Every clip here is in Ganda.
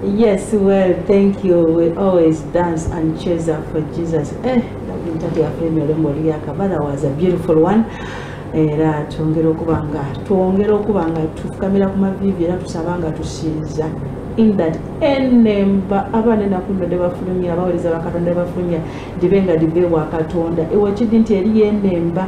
Yes, well, thank you. We always dance and cheers up for Jesus. Eh, David Tati Afremi Olembo Liyaka, but that was a beautiful one. era twongera okuba nga twongera okuba nga tufukamira ku maviivi era tusaba nga tusinza in that enemba abaana enakuno nebafulumya abawuliriza bakatonda nebafulumya dibe nga dibe wa katonda ewe kidi nti eriyo enemba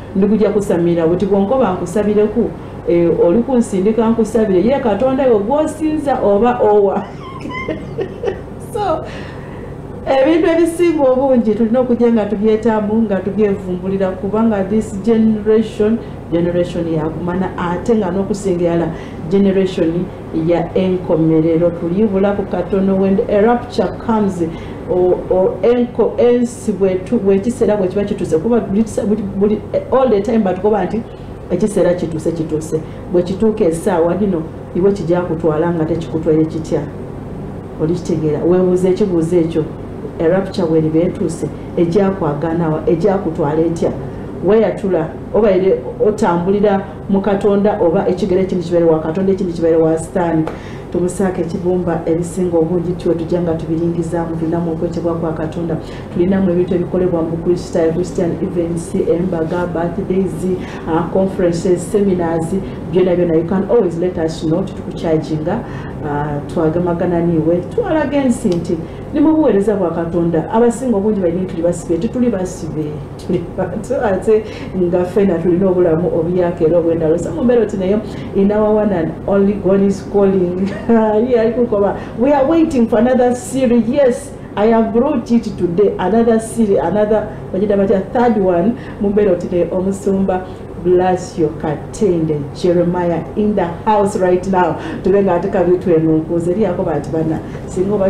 ndikuja kusamira buti bwonkoba nkusabireku e, oli kunsindika nkusabire ye katonda yo gwosinza oba owa so ebintu ebisinga obungi tulina okujja nga tubyetamu nga tubyevumbulira kubanga this generation generation yakumana ate nga nokusinga yala generation ya enkomerero tulibulaku katono when a rapture comes ensi bwekiseera bwekiba kituuse kuba all the time batukoba nti ekiseera kituuse kituuse bwekituuka esaawa lino iwe kijja kutwala nga tekikutwaire kitya olikitegeera webuuza ekibuuzo ekyo a rapture weriba etuuse ejakwaganawa ejakutwala etya weyatula obaire otambulira mu katonda oba ekigere ekimu kibeere wa katonda ekimu kibeere wa sitaani tumusaako ekibumba ebisinga obungi tiwe tujja nga tubiringizaamu tulinamu okwetebwa kwa katonda tulinamu ebintu ebikolebwa mu kristaayo christian events embaga birthdays uh, conferences seminars byona byona you can always let us know titukukyajinga uh, twagamagana niwe twalaga ensi nti ni mu buweereza bwa katonda abasinga obungi balina etuli basibe tituli basibe tuli bantu ate nga fena tulina obulamu obuyaka era obwendalo so mumbeera oti naye in our one and only god is calling ye ali kukoba we are waiting for another series yes I have brought it today another series another bagita batya third one mumbeera oti naye omusumba bless your katende jeremiah in the house right now tube nga ate kabi twemunkuuza eri yakoba ati bana singa oba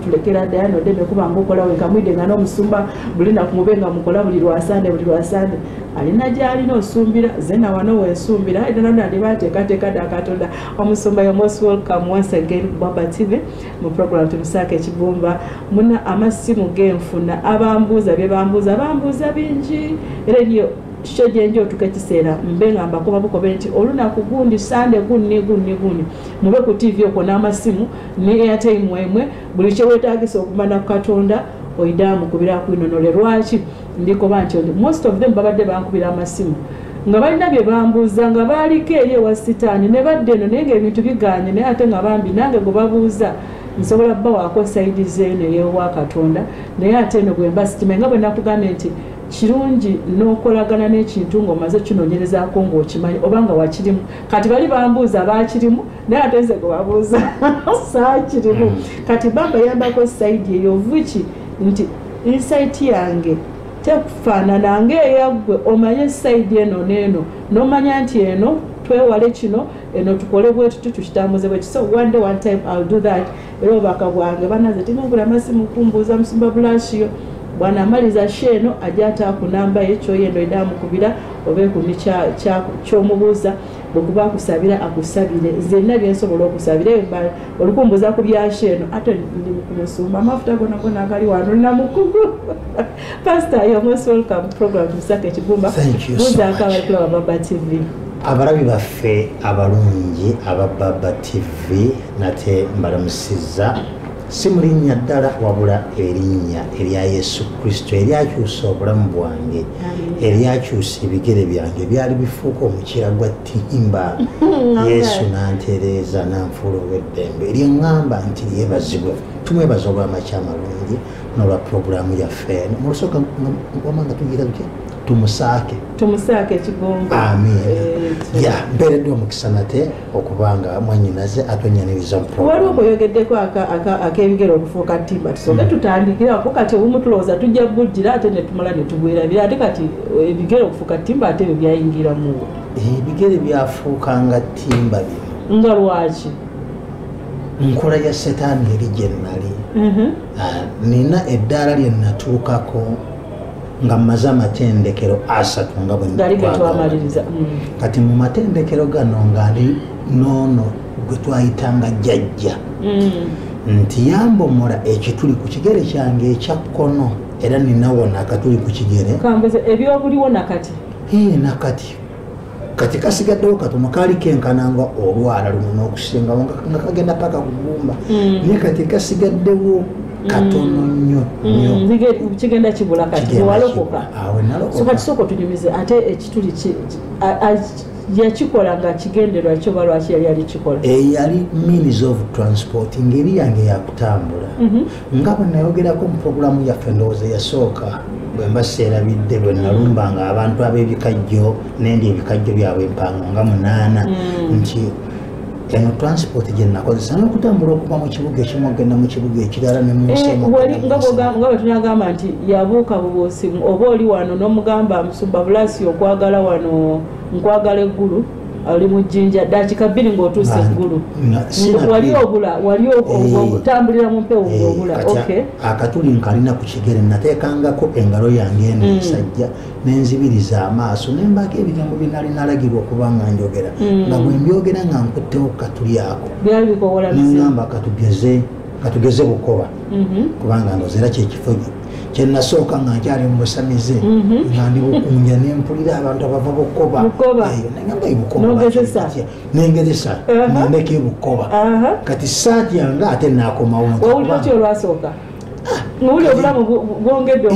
tulekera ddaya nodde nekuba nga okola wenka mwidde nga n'omusumba buli naku mube nga mukola buli lwasande buli lwasande alina gyalina osumbira ze nawano wensumbira era nona ndi bateekateeka dda katonda omusumba yo most welcome once again baba tv mu program tumusaako ekibumba muna amasimu genfuna abambuuza bye bambuuza bambuuza bingi era niyo kikyo gyenji otuka ekiseera mbe nga mbakoba bukobe nti olunaku gundi sande gunni gunni gunni mube ku tv okwo n'amasimu ne airtime emwe buli kyewetagisa okumana ku katonda oidaamu kubira kwinonole lwaki ndikoba nti most of them babadde bankubira amasimu nga balina bye bambuuza nga baaliko eri ewa sitaani ne badde eno naye ngaebintu biganye naye ate nga bambi nange gwe babuuza nsobola bawaako saidi zeeno eyewa katonda naye ate eno gwemba sitima nga bwe nakugambye nti kirungi n'okolagana n'ekintu ng'omaze kinoonyerezaako ng'okimanyi oba nga wakirimu kati bali bambuuza baakirimu naye ate nze gwe babuuza saakirimu hmm. kati bambayambako saidi eyo vuki nti insaiti yange tekufaanana ng'eyaggwe omanye saidi eno n'eno n'omanya nti eno twewale kino eno tukole bwetuti tukitambuze bwekisa one day one time ill do that era obubaka bwange banaze timugula masimu kumbuuza musumba bulashiyo bwanamaliza sho eno ajja ataakunamba ye kyoyendo eda amukubira obeekumi kyomubuuza bwekuba akusabira akusabire nzenna byensobola okusabira olukumbuza ku byasho eno ate ndi mukumusumba amafuta gona gona agali wano olina mukugu Pastor, you're most welcome to program Musaka Kigumba. Thank you so much. Kulaba Baba TV. Abalabi baffe abalungi aba Baba TV nate mbalamusizza si mu linnya ddala wabula erinnya erya yesu kristo eryakyusa obulamu bwange eryakyusa ebigere byange byali bifuuka omukira gwa timba yesu nantereeza nanfuula ow'eddembe eryeŋŋamba nti lyebazibwe tumwebaza olw'amakyamalungi nolwa puroguramu yaffe eno mulusooka wama nga tugira luki tumusaake tumusaake ekigongo amin eh, ya mpeereddwa omukisa nate okuba nga mwanyinaze atwenyaniriza waliwo kweyogeddeko ak'ebigere okufuuka timba tusoke mm. tutandikirako kati obumu tulowooza tujja bujjira ate netumala netugwerabira ate kati eh, ebigere okufuuka timba ate ebyo byayingiramu ebigere byafuuka nga timba bino nga lwaki nkola ya setaani eri gye nnali mhm. ah, nina eddaala lye nnatuukako nga mmaze amatendekero asatu nga bwenatwamaliriza mm. kati mu matendekero gano nga ndi noono gwe twayitanga jjajja mm. nti yambomola ekituli ku kigere kyange ekya kkono era ninawona akatuli ku kigere kambuze ebyobuliwo nakati ee nakati kati kasigaddewo katono kaali kenkana nga olwala luno n'okusingawo nga kagenda paka kugumba mm. naye kati kasigaddewo katono mm. nnyo nnyo mm. kigenda kibula kati walokoka kati sooka tunyumize ate ekituli yakikola nga kigenderwa kyo ba lwaki yali alikikola eyali eh, means of transport ngeri yange yakutambula mhm. nga bwe nayogerako mu pulogulaamu yaffe endowooza eyasooka bwe mba seerabidde bwe nalumbanga abantu ab'ebikajjo nendi ebikajjo byabwe empango nga munaana mm. nti eno transport gye nakozesa n'okutambula okuva mu kibuga ekimu okugenda mu kibuga ekirala ne munsinga eh, bwe tunagamba nti yabuuka bubuusi oba oli wano n'omugamba musumba bulaasi okwagala wano nkwagala eggulu oli mu jjinja daakika bbiri ng'otuuse eggulu wali obula wali eh. okutambulira mu mpewo eh, ng'obula akatuli nkalina ku kigere nateekangako engalo yange eno mm. ensajja nenzibiriza amaaso nembaako ebigambo byenali nalagirwa okuba nga njogera mm. nga bwe mbyogera nga nkuttewo katuli ako nengamba katugeze bukoba mm-hmm. kubanga ndozeera kyekifo kyenasooka nga nkyali mubusamize mhm. nga ndi bukunja nempulira abantu abava bukoba nengezesa nendeka ebukoba kati saati yange ate nakomawo nowuli obulamu bwongedde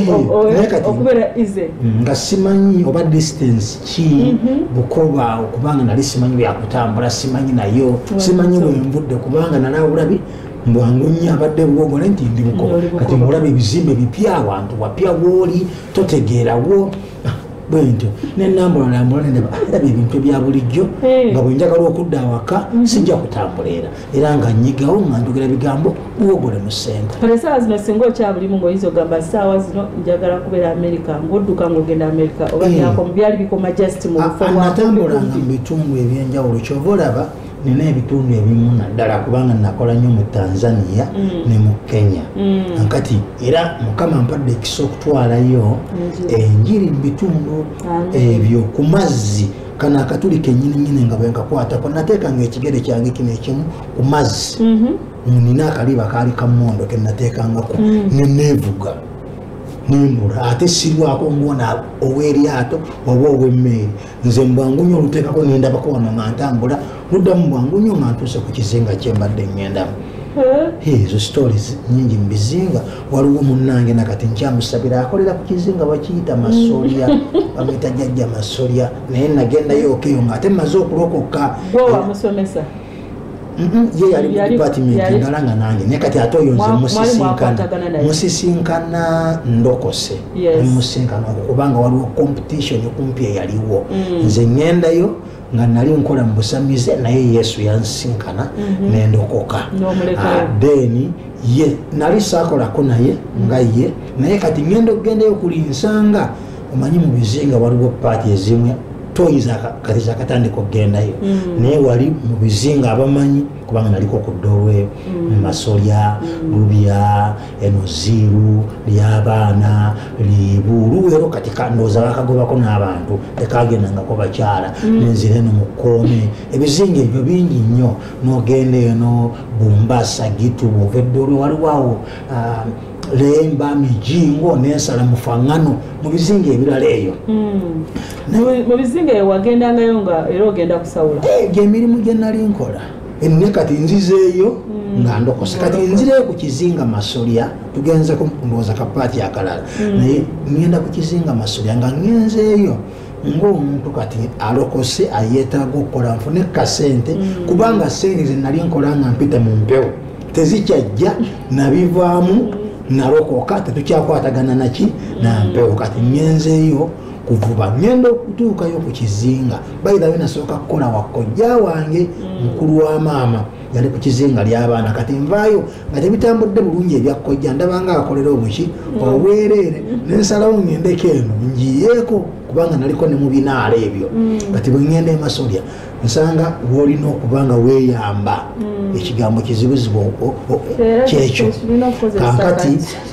okubeera ize nga simanyi oba distance ki mhm. bukoba okubanga nali simanyi byakutambula simanyi nayo simanyi lwenvudde kubanga nalawulabi mbwangu nnyo abadde buwogo naye nti ndi bukoba kati mulaba ebizimbe bipya awantu wapya wooli totegeerawo ah, bwentyo nenambulalambula nendaba ah, era byebintu ebya bulijjo eh. nga bwenjagala okudda awaka mhm. sijja kutambula era era nga nyigawo nga njogera bigambo buwogole mu sente kale esaawa zino singa okyabulimu ngaoyinza ogamba esaawa zino njagala kubeera amerika ngaodduka ngaogenda amerika oba eh. byali bikoma just mu bufo ah, natambulanga mu bitundu ebyenjawulo kyova olaba nina ebitundu ebimu naddala kubanga nakola nnyo mu tanzania mm. ne mu kenya mm. kati era mukama mpadde ekisa okutwalayo enjiri mu bitundu ebyo ku mazzi kano akatuli kenyininyini nga bwenkakwatako nateekanga ekigere kyange kino ekimu ku mazzi mm-hmm. nina akaliba kaali kamondo kenateekangaku mm. neneevuga nembula ate sirwako ngona ow'eryato oba ow'emmeeri nze mbwangunyo olutekako nendabako wano nga ntambula ludamu bwangunyo nga ntuuse ku kizinga kyembadde ngendamu ezo stories nyingi mubizinga waliwo munange nakati nkyamusabira akolera ku kizinga bakiyita masolya bamuyita jajja masolya naye nagendayo okeyo nga ate maze okulokoka ye yali mu dipatimenti ndala nga nange naye kati ate oyo nze musisinkana musisinkana ndokose musisinkana okwo kubanga waliwo competition kumpi eyaliwo mm. nze ngendayo nga nali nkola mu busamize naye yesu yansisinkana mm-hmm. nendokoka ah, then ye nali sakolako naye nga ye naye kati ngenda okugendayo kuli nsanga omanyi mu bizinga waliwo paati ezimu toyi kati zakatandika okugendayo mm. naye wali mu bizinga abamanyi kubanga naliko ku dolwe mm. masolya mm. lubya enoziiru lyabaana liibu luwero kati kandooza bakagobako n'abantu tekagendangako bakyala nenzira eno mukoome ebizinga ebyo bingi nnyo nogenda eno bumbasa gitu bwova eddolwe waliwo awo ah, lemba mijingo nensala mufaŋŋano mu bizinga ebirala eyo hmm. mu bizinga eyo wagendangayo nga era ogenda kusawula eh, gyemirimu gye nali nkola enne kati nzizeeyo hmm. nga ndokose kati nzireyo ku kizinga masolya tugenze kumbooza kapaati akalala hmm. naye ŋŋenda ku kizinga masolya nga ŋŋenzeeyo ngaomuntu kati alokose ayetaaga okukola nfune kasente mm. kubanga sente zenali nkola nga mpita mu mpewo tezikyajja nabivaamu mm. nalokoka tetukyakwatagana naki nampewo kati ngenzeeyo kuvuba ngenda okutuukayo ku kizinga bayirayo nasooka kukola wakojja wange mm. mukulu wa maama yali ku kizinga ly'abaana kati nvaayo nga tebitambudde bulungi ebyakkojja ndabanga akolera obuki obwereere nensalawo ngendeko eno njiyeeko kubanga naliko ne mubinaala ebyo mm. kati bwengenda emasolya nsanga wolina okuba nga weyamba mm. ekigambo kizibuzibu kyekyo kankati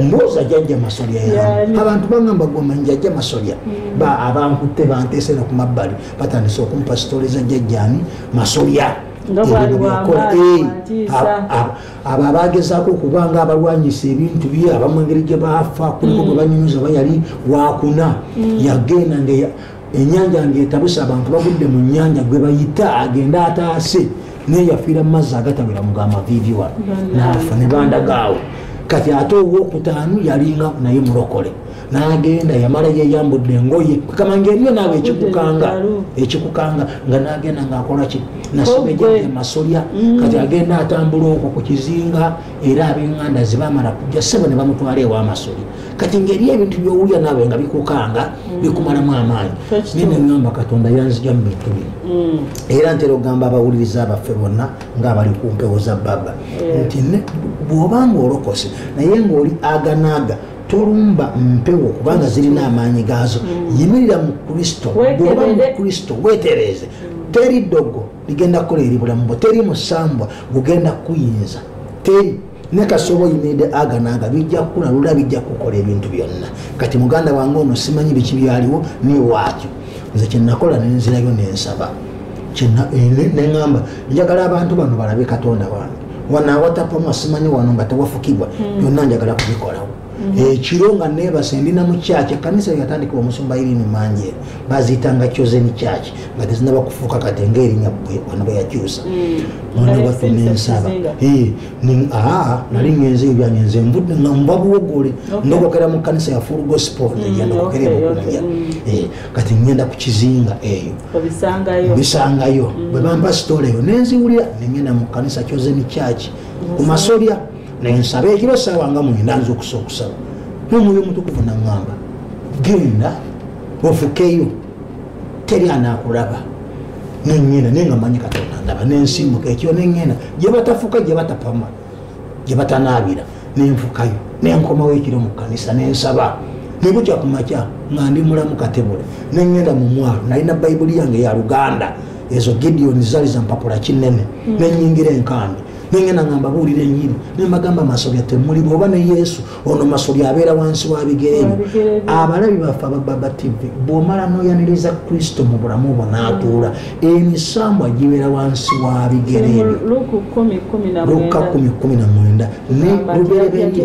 ndowooza jajja masolya yaamu abantu bagamba gwomanyi jajja masolya mm. abankutte banteese no ku mabbali batandise okumpa sitole za jajjani masolya eh, abo abagezaako okuba nga abalwanyisa ebintu bye abamu engeri gye baafa kuliko mm. gwe banyumiza oba yali wakuna mm. yagenda nga enyanja ngaetabuse abantu bagudde mu nyanja gwebayita agende ataase naye yafiira mu mazzi agatawera mugamavivi wano naafa ne bandagaawo kati ate owokutaano yalinga naye mulokole nagenda yamala yeyambudde engoye kama ngaeriyo naawe ekikukanga ekikukanga nga nagenda ngaakolaki nasobejeemasolya mm. kati agenda atambula okwo ku kizinga era abenganda zibamala kujja sebo ne bamutwala ewamasolya kati ngeri ebintu byowulira naawe nga bikukanga mm. bikumalamu amaanyi naye neŋamba katonda yanzija mu bintu bino mm. era ntera okugamba abawuliriza abaffe bonna ngaabali ku mpewo za baba nti bwoba nga olokose naye ngaoli aganaaga tolumba mpewo kubanga zirina amaanyi gaazo mm. yimirira mu kristo bwoba mu kristo wetereeze teri ddogo ligenda kukola eri bulamu bwo teri musambwa gugenda kuyinza teri ne kasooba oyinaede aganaaga bijja kukula lula bijja kukola ebintu byonna kati muganda wange ono simanyi biki byaliwo niwaakyo nze kyenakola nenzirayo nensaba eh, neŋamba njagala abantu bano balabe katonda wange wanaawatapamwa simanyi wano nga tewafukibwa hmm. byonna njagala kubikolawo ekiro nga nebase ndi namu church ekanisa yatandika omusumba iri ni manje bazitanga chosen church nga tezinaba kufuuka kati ngaerinya bwe wanoba yakyusa mm. mwana waffe nensaba eh, ah, nali mm. ngenze ebyange nze nvudde nga mba buwogole ndokokera mu kanisa ya full gospel mm, negenda kokera ebukunya eh, kati ngenda ku kizinga eyo bisangayo bwe bamba sitola eyo nenziwulira nengenda mu kanisa chosen church ku masolya naye nsaba ekiro esaawa nga mwenda nza okusa okusaba nomwoyo omutukuvu naŋamba genda ofukeyo teri anakulaba neŋenda naye nga manyi katonda ndaba nensimuka ekiro neŋenda gyebatafuka gyebatapama gyebatanaabira nenfukayo nenkomawo ekiro mu kanisa nensaba nebukya ku makya nga ndi mulamu katebule neŋenda mu mwalo nalina bayibuli yange ya luganda ezo gideoni zali zampapula kinene mm. nenyingira enkambi nengenda nga mbabuulira enyini nembagamba masobya temuli bwoba ne yesu ono masobya abeera wansi wa bigere byo abalabi baffe abababa tv bwomala noyaniriza kristo mu bulamu bwo natuula emisambwa gibeera wansi wa bigere byo lukka kumi kumi na mwenda ne lubereberye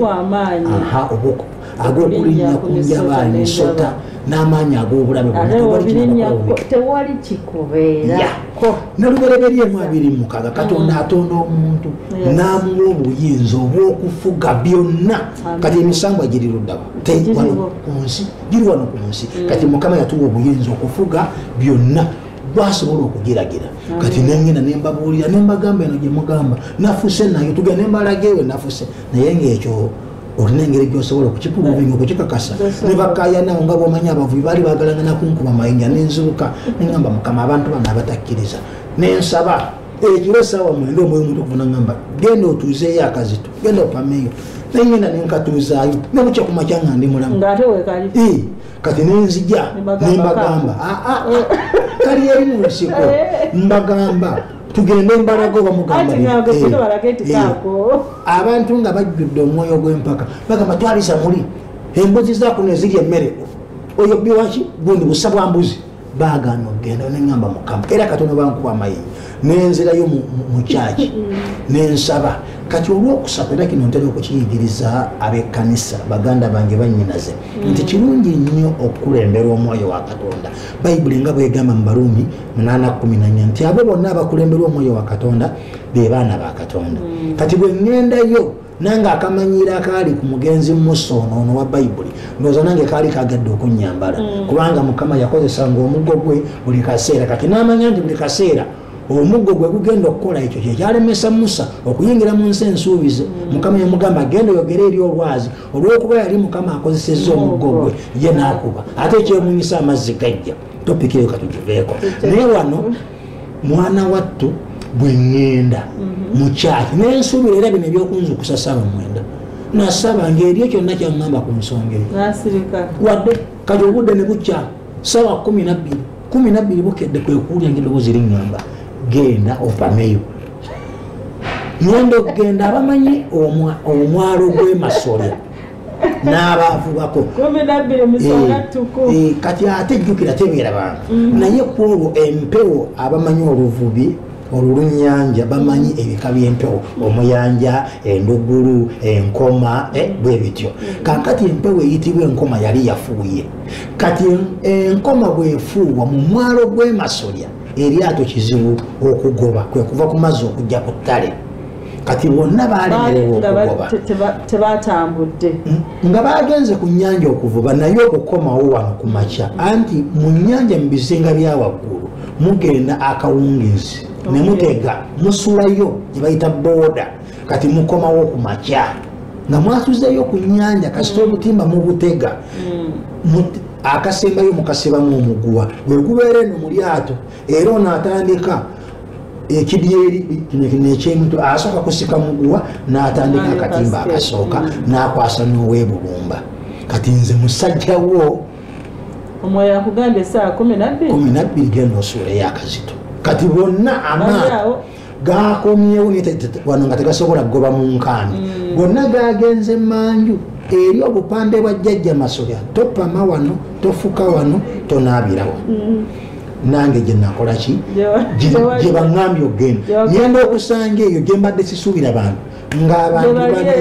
aha obwokubwa ag'okulinnya ku njaba ensota n'amaanyi ag'obulabe bwonatewali kikubeerako nalubereberyemu abiri mukaaga katonda mm. atonda omuntu n'amuwa obuyinza obw'okufuga byonna kati emisambwa giri luddawa tewano ku nsi giri wano ku nsi mm. kati mukama yatuwa obuyinza okufuga byonna gwasobola okugiragira kati nengenda nembabuulira nembagamba eno gyemugamba nafuse nayo tugenda nembalagewe nafuse naye ngaekyo olina engeri gyosobola okukipuluvinga okukikakasa nebakayanawo nga bwomanyi abavubi baali bagalana nakunkuba mayinja nenzibuka nengamba mukama abantu bano abatakkiriza nensaba ekiro esaawa mwenda omwoyo omuntu okuvuna ngamba genda otuuzeeyo akazito genda opameeyo nengenda nenkatuuzaayo nebukya kumakya nga ndi mulamu kati nenzija nembagamba kali eri mu nsiko eh. mbagamba tugende embalaga oba mugambabantu nga bajjudde omwoyo gw'empaka bagamba twalisa muli embuzi zakuno eziri emmere oyo biwaki gundi busa bwa mbuzi bagaana okugenda neŋamba mukama era katono bankuba amayiyi nenzirayo mu kyaki nensaba kati olwokusatu era kino ntera okukiyigiriza ab'ekkanisa baganda bange banyinaze nti kirungi nnyo okukulembera omwoyo wa katonda bayibuli nga bwegamba mu baruumi munana kumi nanya nti abo bonna abakulemberwa omwoyo wa katonda be baana ba katonda mm. kati bwe ŋŋendayo nange akamanyiira akaali ku mugenzi musa ono ono wa bayibuli ndowooza nange kaali kagadde okunnyambala mm. kubanga mukama yakozesanga omuggo gwe buli kaseera kati n'amanya nti buli kaseera omuggo gwe gugenda okukola ekyo kyekyalemesa musa okuyingira mu nsi ensuubize mm. mukama yamugamba genda oyogere eri olwazi olwokuba yali mukama akozesezza omuggo gwe ye nakuba ate ekyemunyisa amazzi gajja topiki eyo katugiveeko naye wano mwana wattu bwe ŋŋenda mhm. mukyaki naye nsuubira era bino ebyokunzukusa saba mwenda nasaba ngaebyo kyonna kyaŋŋamba ku nsonga eyo wadde kati obudde ne bukya saba kumi nabbiri kumi nabbiri bukedde kwekuwulya ngaeddoboozi riŋŋamba genda opameyo ngenda okugenda abamanyi omwalo gwemasolya n'abaavubako eh, kati ate jjukira tebeera bantu mm-hmm. naye kwolwo empewo abamanyi oluvubi olulunyanja bamanyi ebika byempewo omuyanja endugulu enkoma eh, bwe bityo kakati empewo eyitibwa enkoma yali yafuuye kati enkoma bwefuuwa mu mwalo gw'emasolya eryato kizibu okugoba kwe kuva ku mazzi okujja ku ttale kati bonna baalemerewa okugoba tebatambudde hmm? nga bagenze ku nyanja okuvuba naye okukomawo wano ku makya anti mu nyanja mu bizinga bya waggulu mugenda akawungezi ne mutega musulayo gye bayita booda kati mukomawo ku makya nga mwasuzeeyo ku nyanja kasita hmm. obutimba mubutega hmm. akasembayo mukasibamu omuguwa bwekubeera eno mu lyato era ono atandika ekidyeri nekyemutu asooka kusika muguwa natandika akatimba akasooka nakwasa nowebubumba kati nze musajja wo omwoyo akugamba esaa kumi nabbiri genda osuula eyakazito kati bonna amaao gakomyewo wano nga tegasobola kugoba mu nkaani mm. gonna gagenze manju eri obupande bwa jjajja masolya topama wano tofuka wano tonaabirawo mm. nange gyenakolaki gyebaŋambye okugenda ngenda okusanga eyo gyembadde sisuubira bantu ng'abantu bane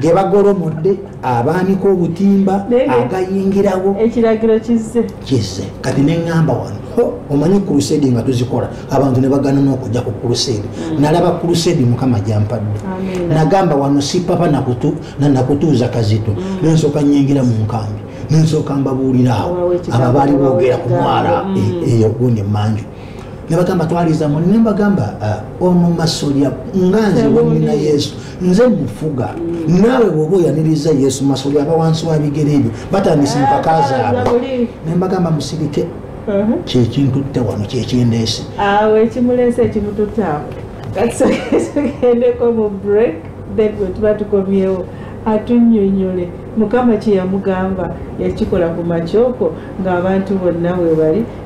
ge bagolomodde abaanika obutimba agayingirawo ekiragiro kizze kizze kati neŋŋamba wano omanyi kulusedi nga tuzikola abantu ne bagana n'okujja ku kulusedi mm. nalaba kulusedi mukama gyampadde nagamba wano si papa nakutuuza kazito mm. nensooka nyingira mu nkambi nensooka mbabuuliraawo abo baali boogera ku mwala mm. e, eyo gundi emanju nebagamba twaliza muli nembagamba ah, ono masolya nga nze wamina yesu nze mufuga mm. naawe bwoba oyaniriza yesu masolya aba wansi wa bigere ebyo batandise empaka ah, zaabwe nembagamba musirike uh-huh. kyekintutte wano kyekindeese awo ekimuleese ekimututte awo tugendeko mu break then bwetuba tukomyewo atunyonyole mukama kyeyamugamba yakikola ku makyoko ng'abantu bonna webali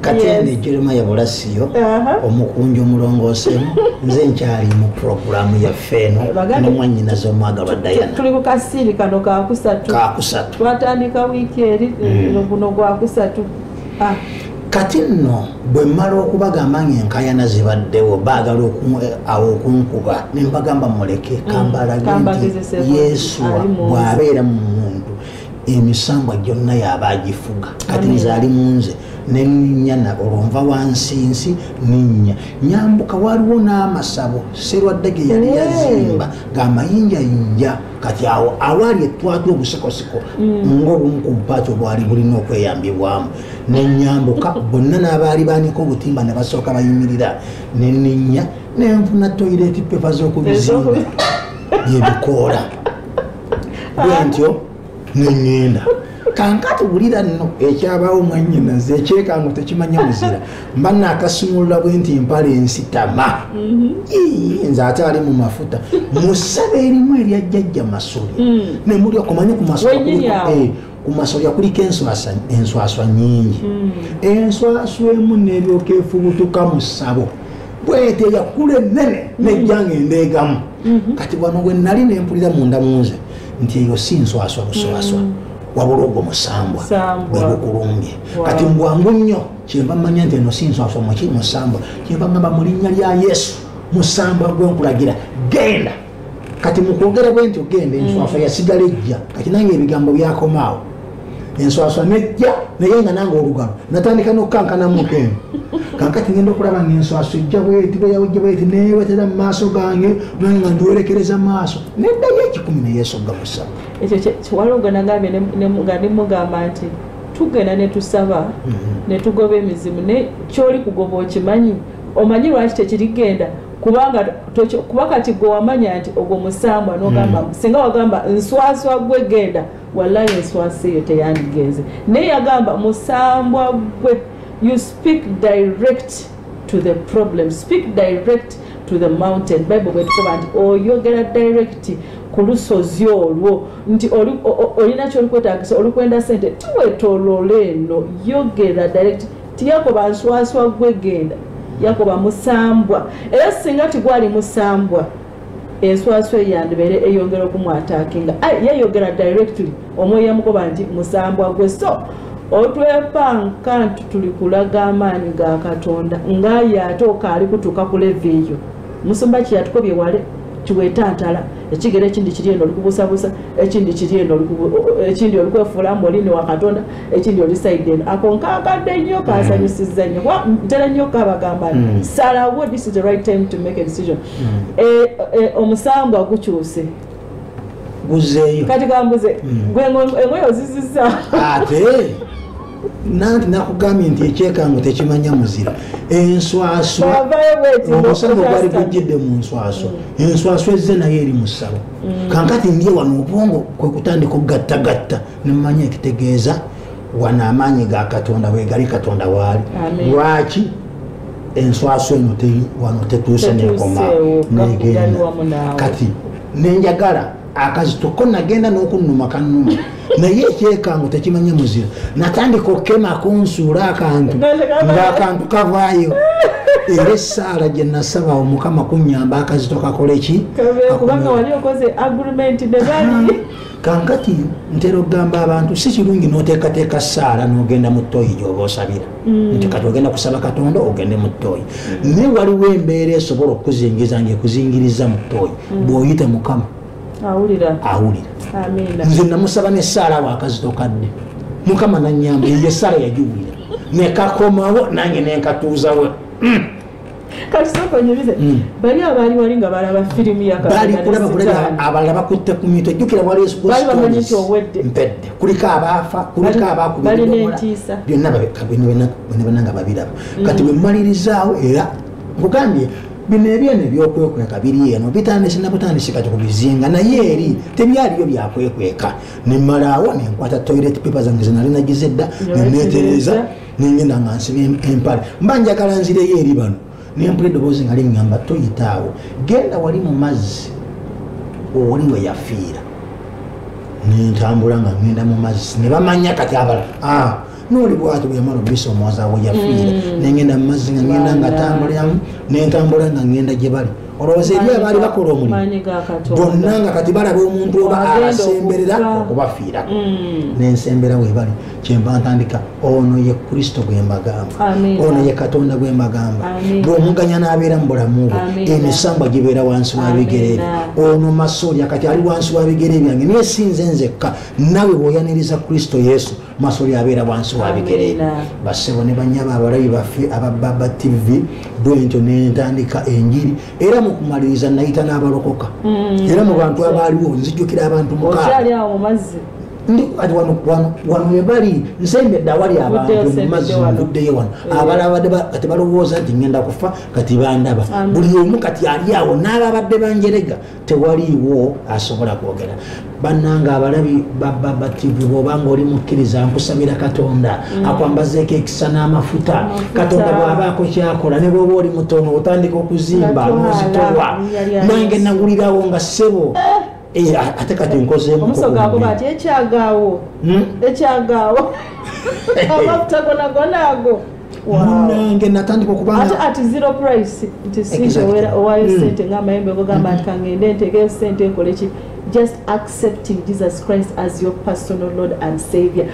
kati eno ejolema ya bulasiyo uh-huh. omukunja omulongoosemu nze nkyali mu puroguramu yaffe eno nomwanyinaza omwagalwa dayanatuli ku kasiiri kano kakusatu kakusatu twatandika wiiki eri mm. guno gwakusatu ah. kati nno bwe mmala okubagamba nga enkayana zibaddewo baagala eh, awo okunkuba ne mbagamba muleke mm. kambalage nti yesu bw'abeera mu muntu emisambwa gyonna yaba agifuga kati nze ali munze nenyana olwo nva wansi nsi ninya nyambuka waliwo n'amasabo serwadde ge yali yazimba ng'amayinjayinja kati awo awaali etwatu obusikosiko mm. ngaobumu ku bupaati obwali bulina okweyambibwamu nenyambuka bonna n'abaali banika obutimba ne basooka bayimirira neninya nenfuna toyireti pepa z'okubizimba byebikoola bwentyo neŋŋenda kankati wulira nno ekyabaawo mwanyinaze ekyekango tekimanya muzira mba nakasumulula bwe nti mpala ensitama mm-hmm. nze ate ali mu mafuta musaba erimu eryajjajja masole mm. nemuli okumanya ku masole ku masolya kuliko enswaswa nyingi hmm. enswaswa emu neryoka efubutuka mu ssabo bwete yakula enene hmm. nejjanga endeegamu hmm. kati wano we nali nempulira munda munze nti eyo si nswaswa buswaswa wabula ogwo musambwa bwegukulumbye kati mbwangu nnyo kyenva manya nti eno si nswaswa muki musambwa kyenva ngamba mu linnya lya yesu musambwa gwenkulagira genda kati mukwogera bwe nti ogenda enswaswa mm. yasigala ejja kati nange ebigambo byakomaawo enswaswa nejja naye nga nange olugalo natandika nokukankana muntu eno kankati ngenda okulaba nga enswaswa ejja bweti bweyawejja bweti newetera mu maaso gange nange nga ndiwerekereza maaso neddayo ekikumi neyesogga musaba ekyo kiwalongo nagambye nga nimugamba nti tugenda netusaba mm-hmm. netugoba emizimu ne kyoli kugoba okimanyi omanyi lwaki tekirigenda kubanga kuba kati gwe wamanya nti ogwo musambwa nogamba hmm. singa wagamba nswaswa gwe genda wallahi enswasa eyo teyandigenze naye yagamba musambwa gwe you speak direct to the problem speak direct to the mountain bible bwetukoba nti oyogera direct ku lusozi olwo nti olina kyolikwetagisa olikwenda sente tiwetolole eno yogera direct ti yakoba nswaswa gwe genda yakoba musambwa era singa tigwali musambwa enswaswa eyandibeere eyongera okumwatakinga yayogera directly omwoyo yamukoba nti musambwa gwe so otwepanka nti tuli kulaga amaanyi ga katonda ngaaye ate okaali kutuuka ku leve eyo musumba kyeyatukobye wale kiwetantala ekigero ekindi kiri eno olikubusabusa ekindi kiri eno ekindi olikwefuula mbu olini wa katonda ekindi oli saiden ako nkakadde nnyo mm. kansanyusizza nnyo kuba ntera nnyo kabagamba mm. salawo this is the right time to make a decision mm. eh, eh, omusambwa gukyuse guzeeyo kati kambuze gwe engoyo ozizizza ate nanti nakugambye nti ekyekango tekimanya muzira enswaswa omusana ogwali gujjidde mu nswaswa mm. enswaswa ezze naye eri mu ssabo mm. kankati ndye wano obwongo kwe kutandika okugattagatta nemumanya ekitegeeza wano amaanyi ga katonda bwegali katonda waali lwaki enswaso eno wano tetuuse nekoma negenda kati nenjagala akazito ko nagenda nokunuma kanuma naye ekyekango tekimanye muzira natandika okukema kunsuula akantu ngaakantu kavaayo era esaala gyenasaba omukama kunyamba akazito kakoleki kankati ntera okugamba abantu si kirungi noteekateeka saala nogenda mu toyi gyoba osabira mm. nti kati ogenda kusaba katonda ogende mu toyi mm. naye waliwo embeera esobola okukuzingiza nga ekuzingiriza mu toyi mm. bwoyita mukama awulira nze namusaba nesaala wakazito kadde mukama nanyamba eyo esaala yagiwulira nekakomawo nange nenkatuuzawo Mm. bali abaali wali nga balaba firimu yabalala bakutte ku mitwe jjukira walibamanyi owedde mpedde kuliko abaafa kuliko abakubalina entiisa byonna babekabenabanga babiraba mm. kati bwemumalirizaawo era nkugambye bino ebyeno ebyokwekweka biri eno bitandise nabutandise kati kubizinga naye eri tebyaliyo byakwekweka nemalawo nenkwata toilet paper zange zenalinagiza edda nenetereza nengenda nga nsiba empale mba njagala nzireyo eri bano nempula eddoboozi nga liŋŋamba toyitaawo genda wali mu mazzi oli we yafiira nentambula nga ŋŋenda mu mazzi ne bamanya kati abala ah, noli bwati bweyamala obisa omwaza we yafiira mm. nengenda mu mazzi nga ŋŋenda nga tambuliramu nentambula nga ŋŋenda gye bali olowooza eri abaali bakola omulimu bonna nga kati balaba omuntu oba abasemberera okubafiirako mm. nensembera webali kyemba ntandika ono ye kristo gwembagamba ono ye katonda gwembagamba bwomuganya nabeera mu bulamu bwo emisambwa gibeera wansi wabigere byo ono masolya kati ali wansi wabigere byange naye sinze nzekka nawe bwoyaniriza kristo yesu masolya abeera wansi wabigere byo basebo ne banyaba abalabi baffe abababa tv bwentyo nentandika enjiri era mukumaliriza nayita n'abalokoka mm. era mu bantu abaaliwo nzijukira abantu mukaa ndi kati wano wano wano we bali nsembedde awali abantu mu mazzi nvuddeyo wano eh. abalabadde kati balowooza nti ngenda kufa kati bandaba buli omu kati ali awo n'ababadde banjerega tewaliiwo asobola kwogera bannanga abalabi bababativu bwobanga oli mukkiriza nkusabira katonda mm. akwambazeeko ekisa n'amafuta katonda bw'abaako kyakola ne bwoba oli mutono otandika okuzimba n'ozitolwa nange nagulirawo nga ssebo eh. Eh, ate kati nkozeomusoga agoba ati ekyagaawo hmm? ekyagaawo amafuta gona gona ago munange natandika okubaati ati zero price nti singa owayo hmm. sente ngaamayembe ogogamba nti hmm. kangende ntegeyo sente nkole ki just accepting jesus christ as your personal lord and savior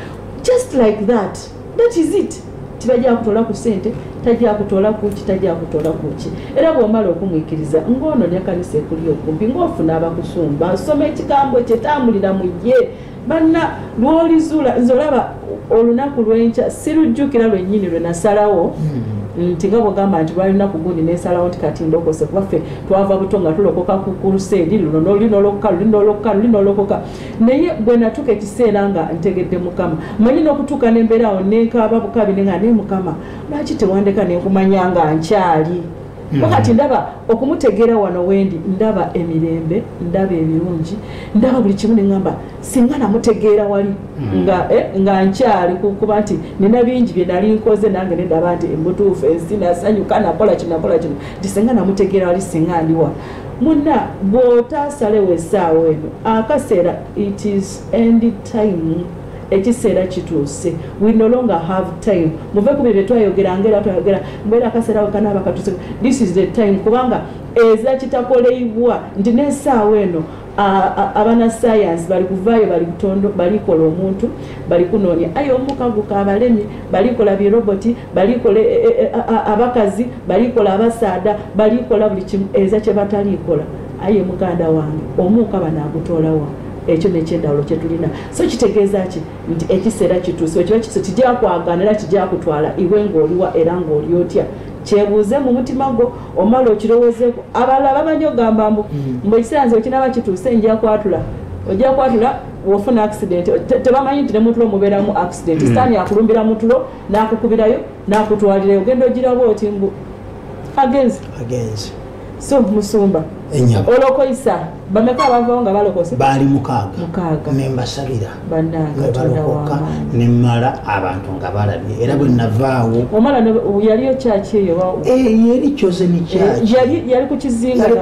just like that that is it tibajja kutola ku sente tajja kutola kuki tajja kutola kuki era bwomala okumwikiriza ng'ono ne kanisa ekuli okumpi ng'ofuna abakusumba asoma ekigambo kye tambulira mu ye banna lwolizuula nze olaba olunaku lwenkya sirujjukira lwennyini lwe nasalawo hmm. nti nga bwogamba nti lwali lunaku gundi nensalawo nti kati ndokose kubaffe twava buto nga tulokoka ku kuruseedi luno noli nolokoka luli nolokoka luli nolokoka naye bwe natuuka ekiseera nga ntegedde mukama manyi n'okutuuka n'embeera awo nenkaaba bukabi ne nga naye mukama lwaki tewandeka ne nkumanya nga nkyali hmm. wakati ndaba okumutegeera wano wendi ndaba emirembe ndaba ebirungi ndaba buli kimu neŋamba singa namutegeera wali hmm. eh, nga nkyali kukuba nti nina bingi bye nali nkoze nange nendaba nti embutuufu ensi nasanyuka nakola kino nakola kino nti singa namutegeera wali singa ndiwa Muna bwotasalewo esaawa eno akasera it is end time ekiseera kituuse we no longer have time muve ku bye byetwayogera ngaera twayogera mbeera akaseera wekanaaba katuse this is the time kubanga eza kitakoleibwa nti nesaawa eno abanasayansi bali kuvaayo bali kutondo balikola omuntu bali kunoonya aye omukaguka abalemi balikola biroboti balikola e, e, e, abakazi balikola abasaada balikola buli kimu eza kyebatalikola aye muganda wange omuuka banagutoolawa ekyo nekyendawulo kyetulina so kitegeeza ki nti ekiseera kituuse ekiba kituuse kijakwagana era kijakutwala iwe ngaoliwa era ngaoli otya kyebuuze mu mutima gwo omala okirowozeeko abalala bamanyi okugamba mbu hmm. mbu ekiseera nze okinaba kituuse nja kwatula ojja kwatula wofuna accident tebamanyi nti nemutulo mubeeramu accident hmm. sitaani akulumbira mutulo nakukubirayo nakutwalirayo ogenda ogiraba oti mbu agenzi so musumba olokoisa bameka abavawo nga balokose baali mukaaga nembasabira nebalokoka nemala abantu nga balabye era bwe navaawo omala yaliyo kyaki eyo eh, yeri chosen kyaki eh, yali ku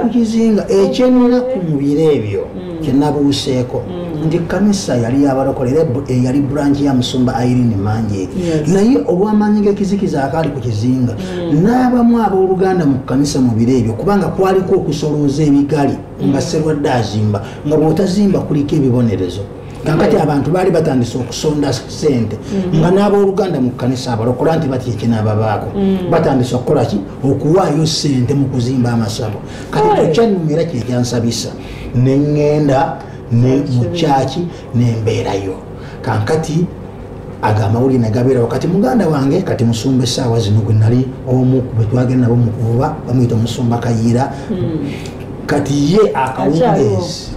kizinga ekyenaku eh, mu biro ebyo mm. kyenabuuseeko mm. nti kanisa yali yabalokola era yali branch ya musumba irene manjeeri naye olwamaanyi gekizikiza akaali ku kizinga mm. hmm. n'abamu abooluganda mu kkanisa mu biro ebyo kubanga kwaliko okusolooza ebigali nga serwadde azimba nga bw'otazimba kuliko ebibonerezo kakati abantu baali batandise okusonda sente mm. nga n'abooluganda mu kkanisa abalokola nti batya ekinaababaako mm. batandise okukola ki okuwaayo sente mu kuzimba amasabo kati kukyanuma era kyekyansabisa neŋŋenda ne mukyaki nembeerayo kankati ago amawulire negabeerawo kati muganda wange kati musumba esaawa zino gwe nali omu bwetwagenda nabo mukuvuba bamuyita omusumba kayiira hmm. kati ye akawungeezi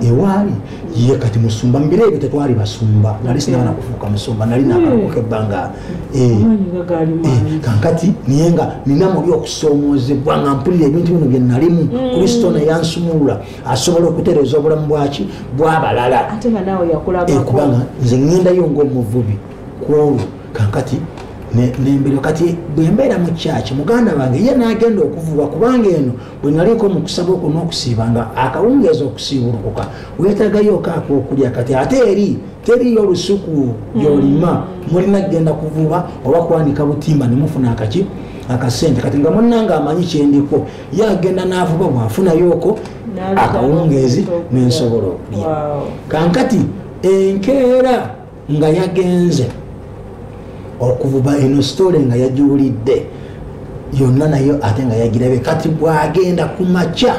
ewaali ye kati musumba mubiro ebyo tetwali basumba nali sinaba nakufuuka musumba nali nakalokoka hmm. ebbanga eh. eh, kankati naye nga nina muli okusoomoozebwa nga mpulira ebintu bino byenalimu hmm. kristo neyansumulula asobola okutereeza obulamu bwaki bwabalala kubanga nze ŋendayo ngaomuvubi kwolwo kankati nembiro kati bwembeera mu kyaki muganda wange ye nagenda okuvuba kubanga eno bwenaliiko mukusaba oku nokusiiba nga akawungeeza okusiibulukuka wetagayoko akokulya kati ate eri teriyo olusuku yolima mm. mulina kugenda kuvuba oba kwanika butimba nemufuna akaki akasente kati nga munange amanyi kyendiko ye agenda n'avuba bwafunayoko akawungeezi nensobola okulya kankati enkeera nga yagenze okuvuba eno sitole nga yagiwulidde yonna nayo ate nga yagirabe kati bwagenda ku makya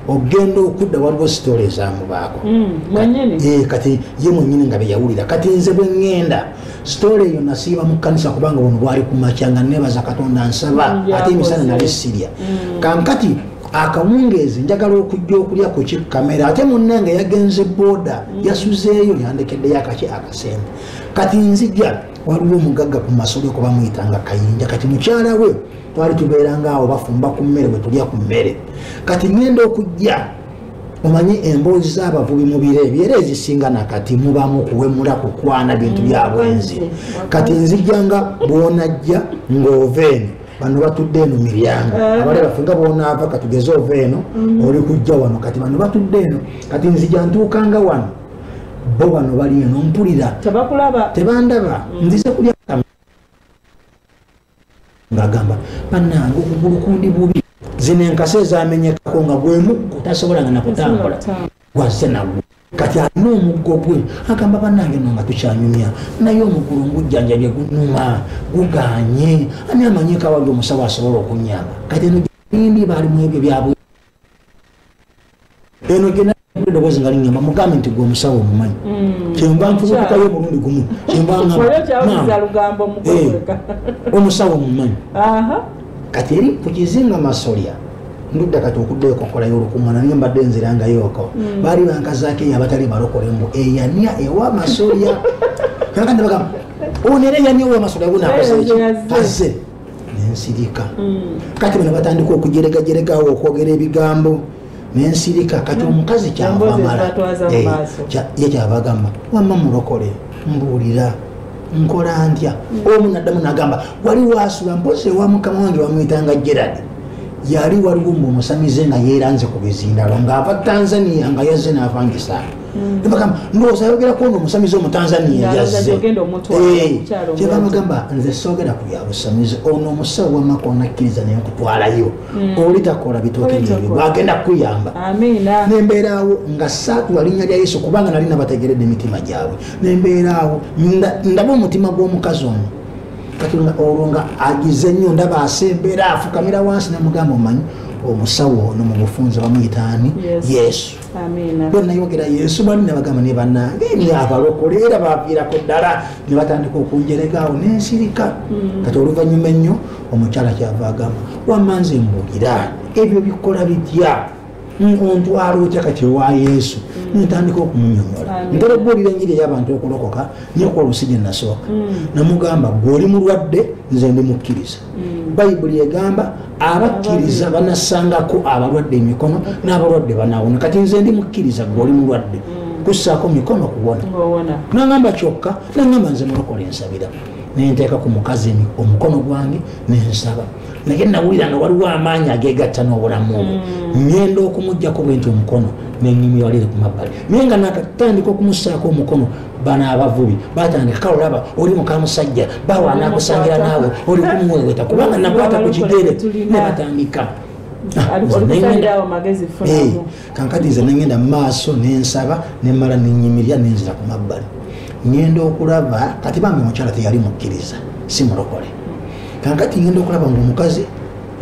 ogenda okudda waliwo sitole ezamubaako mm, eh, kati ye mwenyini nga beyawulira kati nze bweŋŋenda sitoola eyo nasiiba mu kkanisa kubanga buno bwali ku makya nga nebaza katonda nsaba mm, ate emisana nali sirya mm. kankati akawungeezi njagala okujja okulya ku kikamera ate munnange yagenze booda mm. yasuzeeyo yandekeddeyo akaki akasembe kati nzija waliwo omugagga ku masolo kuba muyita nga kayinja kati mukyala we twali tubeeranga awo bafumba ku mmere bwe tulya ku mmere kati ŋenda okujja omanyi emboozi z'abavubi mu biro ebyo era ezisinga nakati mubamu kuwemula kukwana bintu bya bwenzi kati nzijja nga bwonajja ng'ova eno bano batudde eno miryango eh. abale baffe nga bwonaava katugeze ova eno mm. oli kujja wano kati bano batudde eno kati nzija ntuukanga wano bo bano bali eno mpulira tebandaba mm. nzize kulya ngagamba banange okugulu kundi bubi zino enkasi ezamenyekako nga gwemuggo tasobolanga nakutambula gwazze nagwo kati alina omuggo gwe agamba banange no nga tukyanyumya naye omugulu ngujjanjabye gunuma guganye ani amanyekawali omusawo asobola okunyamba kati eno ndi baali mu ebyo byabwe eno gyenaedoboozi nga linyamba mugambe nti gwe omusawo omumanyi mm. kyenva ntuukayo omulundi gumu kyenva eh, omusawo omumanyi kati eri ku kizinga masolya ndudda kati okuddayo kokola yolukungana naye mbadde nzirangayoko mm. baali bankazaako eyo abatali balokole mbu eyania ewa masolya kakandi bagamba onera eyania owa masolya bunakoze nensirika mm. kati bano batandika okujeregajeregaawo okwogera ebigambo nensirika kati mm. omukazi kyavamala eh, ye kyabagamba wamma mulokole mbuulira nkola ntya mm. omu naddamu nagamba wali wasula mpozi ewa mukama wange wamwitanga gerard yali waliwo mbu omusamize nga yeeranze ku bizindalo ng'ava tanzania nga yazze n'avangisaako nebagamba ndowooza ayogerako ono omusamize omutanzania yazzekyebamugamba eh, nze soogera ku byabusamize ono omusawo wamaka onakkiriza naye okutwalayo hmm. oli takola bitooke byebyo bwagenda kukuyamba nembeeraawo nga saatula linnya lya yesu kubanga nali nabategeredde emitima gyabwe nembeeraawo ndaba omutima gw'omukazi ono katonda olwo nga agize nnyo ndaba asembeera afukamira wansi nemugamba omanyi omusawo ono mu bufunza bamuyitaani yesu bwenayogera yesu bali nabagamba ne banange ni abalokole era baviirako ddala ne batandika okunjeregaawo nensirika mm. kati oluvanyuma ennyo omukyala kyava agamba wamma nze mbuulira ebyo bikola bitya ontwala otya kati ewa yesu mm. ntandika okumunyonyola ntera okubuulira enjiri ey'abantu okulokoka nyokuba olusi gye nasooka mm. namugamba gwe oli mulwadde nze ndi mukkiriza hmm. bayibuli egamba abakkiriza banasangako abalwadde emikono n'abalwadde banawona kati nze ndi mukkiriza gwe oli mulwadde hmm. kussaako mikono kuwona nangamba kyokka nangamba nze mulokola ensabira nenteeka ku mukazi omukono gwange nensaba naye nawulira nga waliwo amaanyi agegatta n'obulamu obwo hmm. ngenda okumujjako bwenti omukono nenyumyalire ku mabbali naye nga nakatandika okumusaako omukono bano abavubi batandika kale olaba oli mukamusajja bawa nakusangira naawe oli kumuweweta kubanga nakwata ku kigere ne batandika ah, eh, kankati nze nengenda mumaaso nensaba nemala nenyimirira nenzira ku mabbali ngenda okulaba kati bambi omukyala teyali mukkiriza si mulokole kankati ngenda okulaba ngaomukazi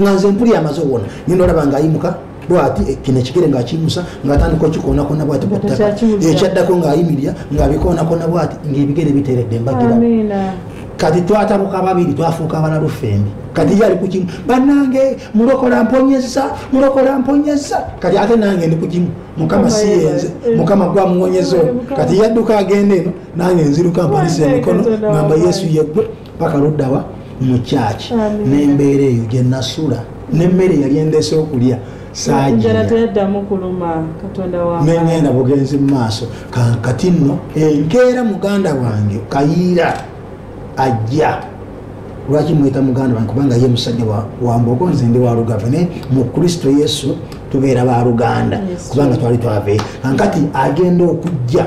nga nze mpuli amaze owona ngenda olaba ngaayimuka bwati eh, kino ekigere ngaakiyimusa ngaatandika okikoonakona bwati ekyaddako ngaayimirira ngaabikoonakona bwati ngaebigere biteredde mbagira kati twatabuka babiri twafuuka abalalu ffembi kati ye ali ku kimu banange mulokola mponyeza mulokola mponyeza kati ate nange ndi ku kimu mukama siyenze eh. mukama gwamuwonyeza ono kati yadduka agenda eno nange nziruka mpanisa emikono ngamba yesu yeggwe paka luddawa mu kyaki n'embeera eyo gye nasula n'emmere yali endeese okulya nengenda bugenzi mu maaso kati nno enkeera muganda wange kayiira ajja lwaki mweta muganda wange kubanga ye musajja wambogo nze ndi walugave naye mu kristo yesu tubeera baluganda kubanga twali twave ankati agenda okujja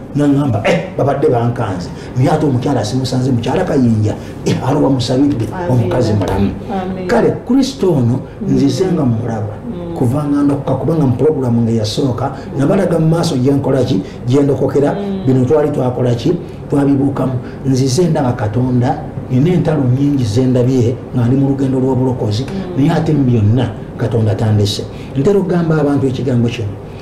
nangamba eh, babadde bankanze naye ate omukyala simusanze mukyala kayinja eh, aroba musabidde omukazi mulamu kale kristo ono nzize nga mumulaba mm. kuvanga ndokoka kubanga mupulogulamu nga yasooka nabalaga mu maaso gyenkolaki gyendokokera mm. bino twali twakolaki twabibuukamu nzize ndaba katonda nina entalo nyingi zendabye nga ndi mu lugendo lw'obulokozi mm. naye ate mu byonna katonda tandese ntera okugamba abantu ekigambo kino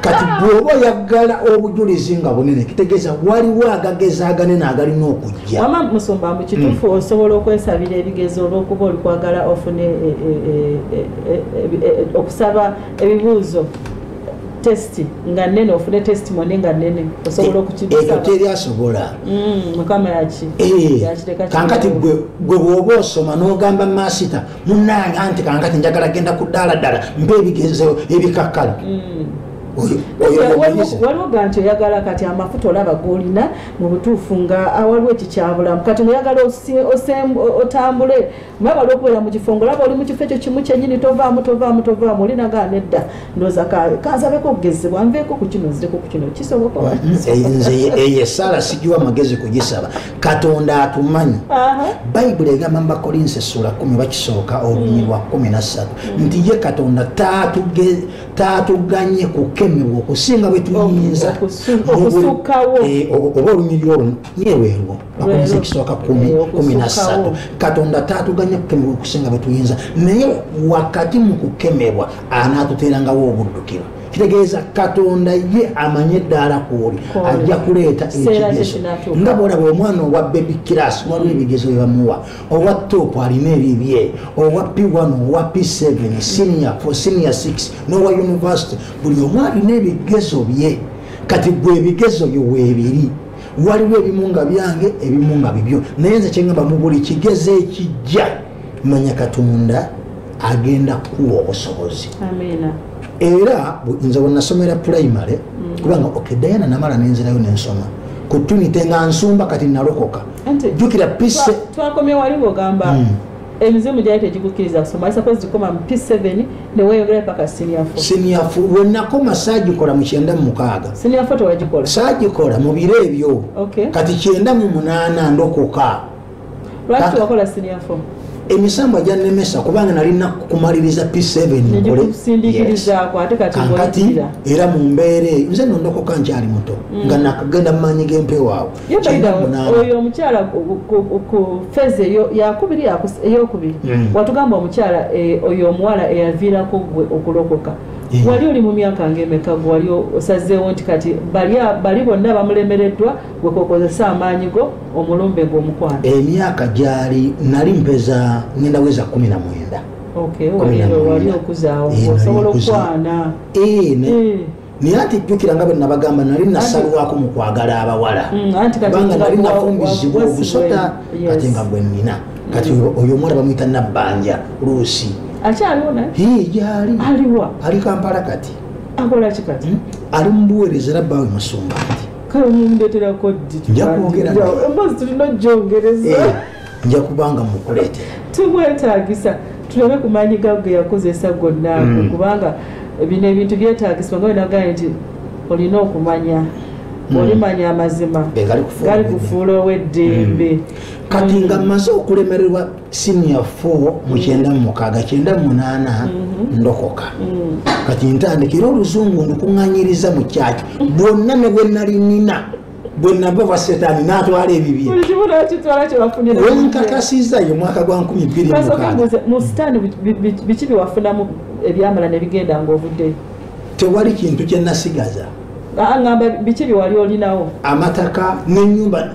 kati bwoba oyagala obujulizi nga bunene kitegeeza waliwo agageza aganene agalina okujja wama musumba mbu kituufu hmm. osobola okwesabira ebigezo olwokuba olikwagala ofune e, e, e, okusaba ebibuuzo test nga nene ofune testimony nga nene osobola okukiekyo teri asobola hmm, mukama yaki eh, kankati gwe bwoba osoma nogamba masita munange anti kankati njagala genda ku ddaladala mba ebigezo ebikakkala mm. waliwo ganti oyagala kati amafuta olaba golina mubutuufu nga awaliwo ekikyabulamu kati noyagala otambule maba lwokubeera mukifo ngaolaba oli mukifo ekyo kimu kyenyini tovaamu tovaamu tovaamu olinagaa nedda ndoza kanzabeko okugezebwa nveeko ku kino nzireko ku kino kisoboka nze eyo esaala sigiwa magezi kugisaba katonda atumanyi bayibuli egamba mu bakolinsi essuula kumi bakisooka olunyiri lwa kumi na ssatu mm. nti ye katonda taatuganye kukemebwa okusinga bwe tuyinza eh, oba olunyiri olwo yeweerwo bakolinsi ekisooka kumi kumi na ssatu katonda taatuganye kukemebwa okusinga bwe tuyinza naye wakati mu kukemebwa anaatuteerangawo obuddukiro kitegeeza katonda ye amanye eddaala kwoli ajja kuleeta ekigezo nga bwolaba omwana owa bebi kiras waliwo ebigezo byebamuwa owa top alina ebibye owa p1 owa p7 senior for senior 6 nowa university buli omu alina ebigezo bye kati gwe ebigezo byo weebiri waliwo ebimu nga byange ebimu nga bibyo naye nze kyengamba mu buli kigezo ekijja manya katonda agenda kuwa obusobozi era nze wenasomera primary mm. kubanga ok diana namala nenzirayo nensoma ku tunite nga nsumba kati nalokoka jukira pise twakomye waliwo gamba mm. emizimu gyali tegikukkiriza kusoma isakozi gikoma mu p7 neweyongera paka siniafo siniafo wenakoma sagikola mu kyenda mumukaaga siniafo tewagikola sagikola mu biro ebyo kati kyenda mu munaana ndokoka lwaki wakola senior form emisambwa gyannemesa kubanga nalina kumaliriza p7kankati era mu mbeera eyo nze nondokoka nkyali muto mm. nga nakagenda mumaanyi g'empewaawo oyo omukyala ku feze yakubiri eyokubiri mm. watugamba omukyala eh, oyo omuwala eyaviirako gwe okulokoka wali oli mu myaka ngaemeka gwewali osazeewo nti kati bali bonna bamulemereddwa gwe kokozesa amaanyi go omulumbe gwe omukwano emyaka gyali nali mpeza ngenda weza kumi na mwenda naye ati jjukira nga bwenabagamba nali nasalwako mu kwagala abawala kubanga mm, nali nafumbizibwa obusota kati nga gwe nina kati oyo omwana bamwita nabbanja luusi gyali ali kampala kati hmm? ali mubuweereza era bawe musumba kati kale mumundetera koddi nja kwogera emboozi tulina ojjongereza eh, nja kubanga mukuleetera tumwetaagisa tulabe ku maanyi gago ge yakozesa gonna ago mm. kubanga bino ebintu byetaagisibwa nga wenagaa nti olina okumanya mm. olimanya amazima eh, gali kufuula ow'eddembe mm. kati nga mmaze okulemererwa siniya 4 mu kyenda mu mukaaga kyenda mu munaana mm-hmm. ndokoka mm. kati ntandika era oluzungu ndikuŋanyiriza mu kyaki bwonna ne bwe nali nina bwe nava wa setaani n'atwala ebibye wenkakasiza ye mwaka gwa nkumi bbiri mu sitaani biki byewafunamu ebyamala ne bigenda ng'ovuddeyo tewali kintu kye nasigaza aŋamba biki byewali olinawo amataka n'enyumba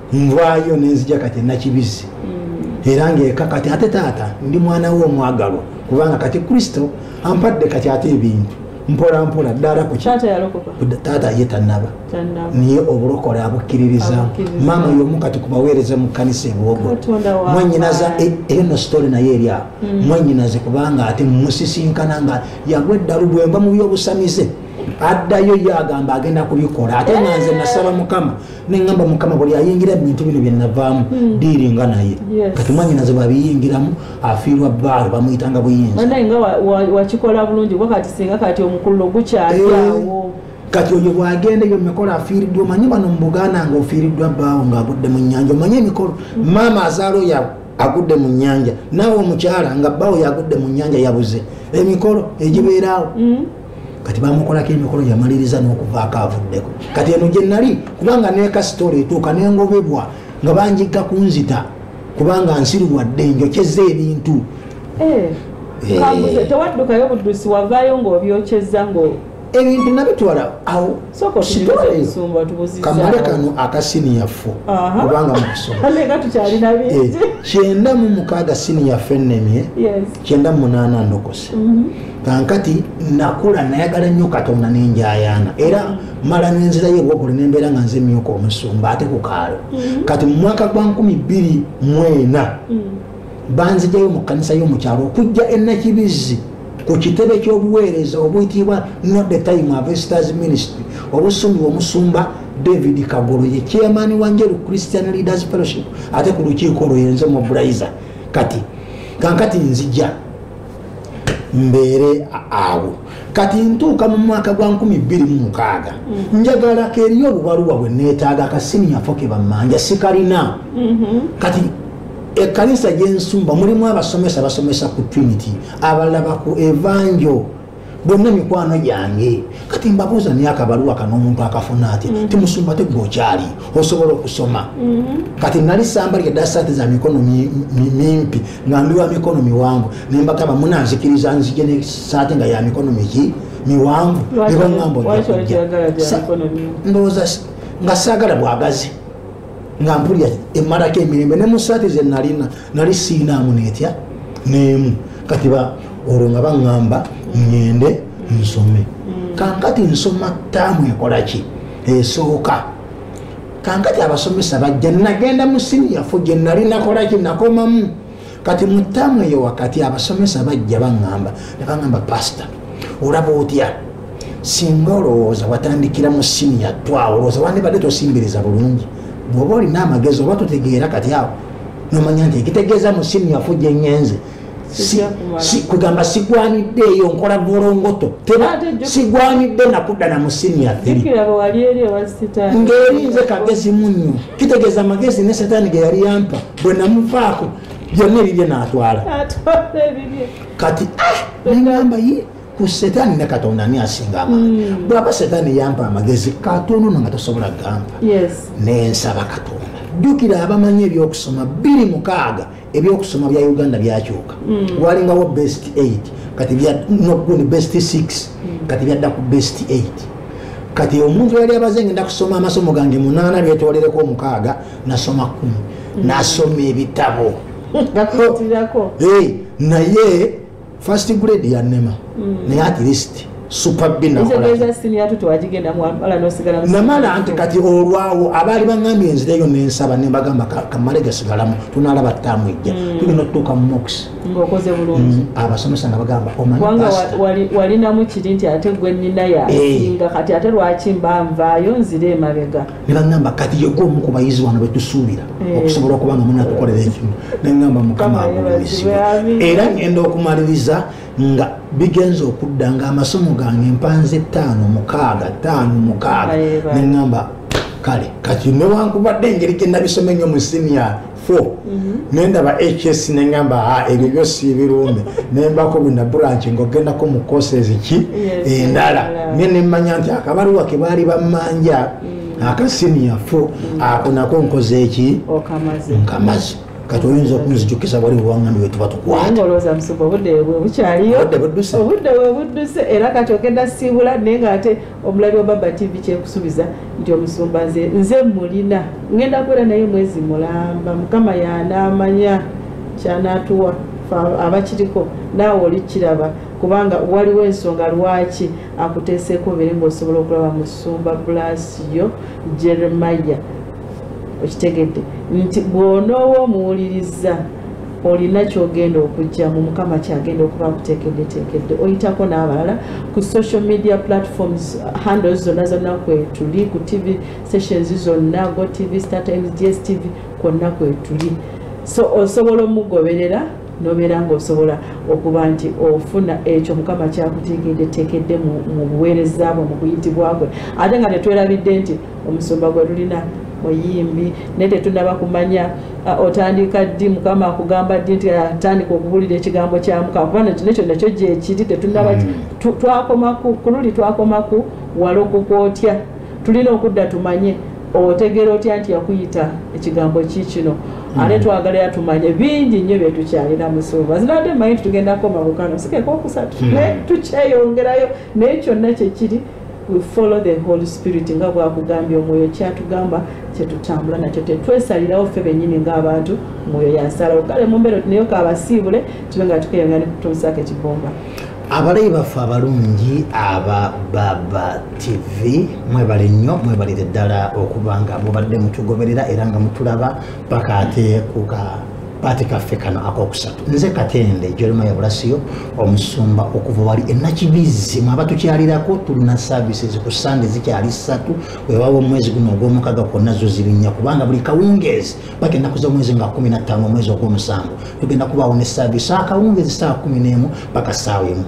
nvaayo nenzija kati enakibizzi mm. era ngaeka kati ate taata ndi mwana we omwagalwa kubanga kati kristo ampadde kati ate ebintu mpola mpola ddala ku taata ye tanaba naye obulokole abukkiririza maama yomu kati kubaweereza mu kkanisa ebwogo mwanyinaza e- eno sitole naye eri awo mm. mwanyinaze kubanga ate musisinkana nga yagwa eddalu bwemba mu byobusamize addayo ye agamba agenda kubikola ate nga nze nasaba mukama nengamba mukama buli ayingira bintu bino byenavaamu hmm. diiringa naye kati mwanyinaze bwabiyingiramu afiirwa baalo bamuyitanga buyinzawakikola bulungi kuba kati singa kati omukululo gukyaliawo eh, kati oyo bwagenda ebyo mumikolo afiiriddwa omanyi bano mubuganda nga ofiiriddwa baawo ngaagudde mu nyanja omanyi emikolo hmm. maama azaala oyo agudde mu nyanja naawe omukyala nga baawo yagudde mu nyanja yabuze emikolo egibeeraawo hmm. kati bamukolako emikolo yamaliriza nokuvaako avuddeko kati eno gyenali kubanga nekasitola etuuka nengobebwa nga banjigga kunzita kubanga nsiruwadde njokyeza ebintu eh, eh. tewaddukayo buddusi wavaayo ngaobyokyeza ebintu nabitwala awo kamale kano akasiniya fo kubanga eh, kyenda mu mukaaga siniya fo ennemye kyenda munaana ndokose mhm. kankati nakula nayagala nnyo katonda nenjayaana era mala nenzirayo ewogule nembeera nga nze emyuka omusumba ate ku kaalo mhm. kati mu mwaka gwa nkumi bbiri mwena mhm. banzijayo mu kkanisa y'omukyalo okujja enakibizzi ku kitebe ky'obuweereza obuyitibwa not the time avesters ministry obusumibwa omusumba david kagolo ye chairman wa njeru christian leaders fellowship ate ku lukiiko olwo yenze mobilizer kati kankati nzija mbeere awo kati ntuuka mu mwaka gwa 26 mm. njagala keriyo obubaluwa bwe neetaaga kasinyafo ke bammanja sikalina mm-hmm. kati ekkanisa gyensumba mulimu abasomesa basomesa ku trinity abalaba ku evanjo bonna mikwano gyange kati mbabuuza naye akabaluwa kano omuntu akafuna ati mm-hmm. timusumba tegwe okyali osobola okusoma mm-hmm. kati nali samba lya dasati za mikono mimpi nga ndi wa mikono miwanvu nembagamba munanzikiriza nzije ne saati nga ya mikono miki miwanvu nebaŋamba ndowooza nga saagala bwagazi nga mpulira emalako emirembe ne mu saati ze nalina nali siinaamu netya neemu kati ba olwo nga baŋŋamba ŋŋende nsome mm. kankati nsoma taamu ekola ki esooka kankati abasomesa bajja nagenda mu siniyafu gye nali nakola ki nakomamu kati mu taamu eyo wakati abasomesa bajja baŋŋamba ne baŋŋamba pasita olaba otya singa olowooza watandikira mu siniya twawo olowooza wandibadde tosimbiriza bulungi bwoba olina amagezi oba totegeera kati awo nomanya nti ekitegeeza musimu yafu gyenyenze kugamba sigwanidde eyo nkola volongoto teba sigwanidde nakudda na musimu yathingerinze kagezi munyo kitegeeza magezi ne setaani ge yali yampa bwe namuvaako byonna ebibye natwala kati ah, namba ku setaani ne katonda ani asinga amaanyi mm. bwaba setaani yampa amagezi katonda ono nga tosobola gampa nensaba katonda jjukira abamanyi ebyokusoma biri mukaaga ebyokusoma bya uganda byakyuka mm. walingawo best 8 kati noguni best 6 mm. kati byadda ku best 8 kati omuntu yali abaze ngenda kusoma amasomo gange munaana byetolereko omukaaga nasoma kumi nasoma ebitabo naye first grade ya nema mm. naye at least namala nti kati olwawo abaali baŋambye enzireyo nensaba nembagamba kamale gasigalamu tunalaba tutamwijja mm. tugenda otutuuka mu mox mm, abasomesa nga bagamba omanwalinamu kiri nti ate gwenina yasinga eh. kati ate lwaki mba nvaayo nzire emabega ne baŋŋamba kati yegwe omu ku bayizi wano betusuubira eh. okusobola okuba nga muna tukolera ekimu neŋŋamba mukama agulumizibwa era ŋŋenda okumaliriza nga bigenza okudda nga amasomo gange mpanze ttaano mukaaga ttaano mukaaga neŋŋamba kale kati newankubadde engeri gye nabisoma ennyo mu siniya 4 mhm. nendaba hs nengamba ah, ebyo byo siibirumbe nembako bina bulanki ngaogendako mu kosezi ki endala nye nemmanya nti akabaluwa ke baali bammanja mm. akasiniya 4 mm. ako nako nkoze eki nkamazi kati oyinza okunzijukisa wali buwangani wetuba tukwataobudde bwebudduse era kati ogenda siibula naye nga ate omulabi wa baba tv kyekusubiza nti omusumba nze nze mulina ngenda kubeera naye mwezi mulamba mukama yanaamanya kyanatuwa abakiriko naawe olikiraba kubanga waliwo ensonga lwaki akuteeseeko obeere ngaosobola okulaba musumba bulaasi yo jeremaya okitegedde nti bw'onooba omuwuliriza olina kyogenda okugyamu mukama kyagenda okuba akuteekeddeteekedde oyitako n'abalala ku social media platforms handles zonna zonna kwetuli ku tv sessions zonna go tv star times gs tv kwonna kwetuli so osobola omugoberera nobeera ngaosobola okuba nti ofuna ekyo mukama kyakuteekeddeteekedde mu buweereza bwe mu kuyitibwa kwe ate nga tetwerabidde nti omusumba gwe lulina muyimbi naye tetunaba kumanya ah, otandika ddi mukama akugamba ddi nti atandika ah, okubuulira ekigambo kyamuka kuba nakyo nekyo nakyo gyekiri tetunaba hmm. twakomaku kululi twakomaku walokoka otya tulina okudda tumanye otegera otya nti yakuyita ekigambo ki kino hmm. ate twagalira tumanye bingi nnyo byetukyalira musuuba zinadde manyi nti tugenda koma bukano sikeka okusatu hmm. naye tukyeyongerayo naye kyonna kyekiri we follow the holy spirit nga bwakugambye omwoyo kyatugamba kyetutambula nakyo tetwesalirawo ffe benyini ngaabantu mwoyo yansalawo kale mumbeera oti naye kabasiibule tube nga tukeyongera nekutunsako ekibomba abalayi baffe abalungi aba baba tv mwebale nnyo mwebalire ddala okuba nga mubadde mutugoberera era nga mutulaba paka ate kuka kapaati kaffe kano akokusatu nze katende jerema yabulasiyo omusumba okuva wali enakibizzi mwaba tukyalirako tulina services ku sande zikyali satu wewawo omwezi guno ogwomukaga kwonna zo zirinya kubanga buli kawungeezi bagenda kuza omwezi nga kumi nattaano omwezi ogwomusanvu tugenda kubaawo ne service akawungeezi saawa kumi n'emu paka saawa emu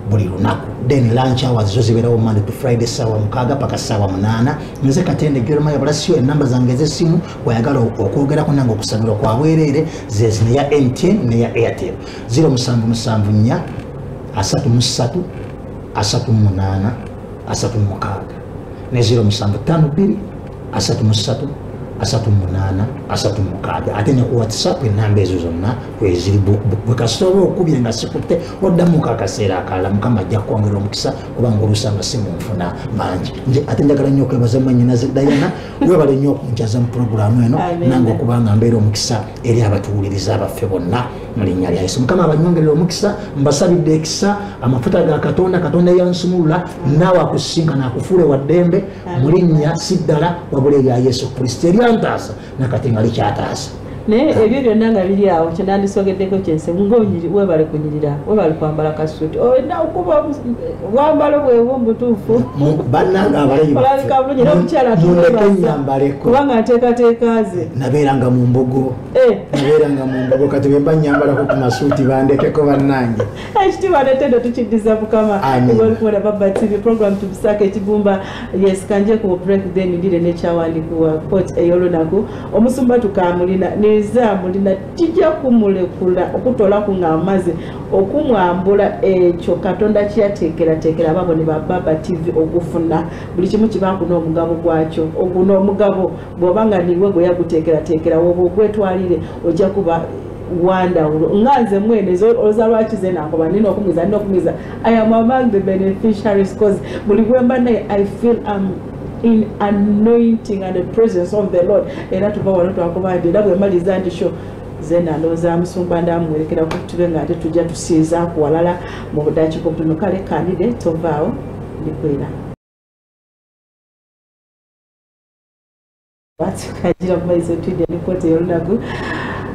buli lunaku then lunch hours zo zibeerawo monday to friday saawa mukaaga paka saawa munaana nze katende jerema yabulasiyo enamba zange ez'essimu wayagala okwogerako nange okusabirwa kwa bwereere zezi neya mtn neya airtel 0774 asatu mu ssatu asatu mu munaana asatu mu mukaaga ne 0752 asatu mu ssatu asatu mu munaana asatu mu mukaaga ate ne ku whatsapp enamba ezo zonna kweziri bwe kasita oba okubye nga sikutte oddamu ka akaseera akalala mukama ajja kukwongera omukisa kubanga olusanga si mu nfuna mangi nze ate njagala nnyo okwebaza mwanyinaze dayana webale nnyo okunjaza mu pulogulaamu eno nange okuba nga mbeera omukisa eri abatuwuliriza abaffe bonna mu linnya lya yesu mukama abanyongerera omukisa mbasabidde ekisa amafuta ga katonda katonda yansumulula naawe akusinka nakufuule wa ddembe mu linnya si ddala wabula erya yesu kristo eryantaasa nakati nga likyataasa naye ebyo byonna nga biri awo kyenandisogeddeko kyensi ngaonyiri webale kunyirira webale kwambala kasuti olina oh, okuba wambalo bwewo mubutuufu bananga abalaiolabika bulungi era omukyala kubanga nteekateeka ze nabeeranga mu mbugo eh. nabeeranga mu mbugo kati bemba nyambalako ku masuuti bandekeko bannange ekitiibwa eh, netendo tukiddiza mukama olikuwona baba tv program tubisaako ekigumba yes kanje ku break then ndire nekyawandikiwa pot ey'olunaku omusumba tukamulina neza mulina tija kumulekula okutolaku nga amaze okumwambula ekyo katonda kyatekeratekera ababo ne bababa tv okufuna buli kimu kibakuna omugabo gwakyo oguna omugabo bwoba nga niwe gweyagutekeratekera woba ogwetwalire ojja kuba wandawulo nga nze mwene oza lwaki ze nakoba nina okumiza nina okumiza i am among the beneficiaries cause buli gwemba naye i feel am um, in anointing and the presence of the lord era tuva wano twakuba nti era bwemaliza nti sho ze nalooza musumba ndamuwerekera kutube nga ate tujja tusiiza ku walala mu budakiko buno kale kandide tovaawo ndikwera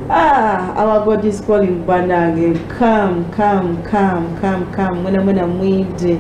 Ah, our God is calling banange come come come come come mwena mwena mwide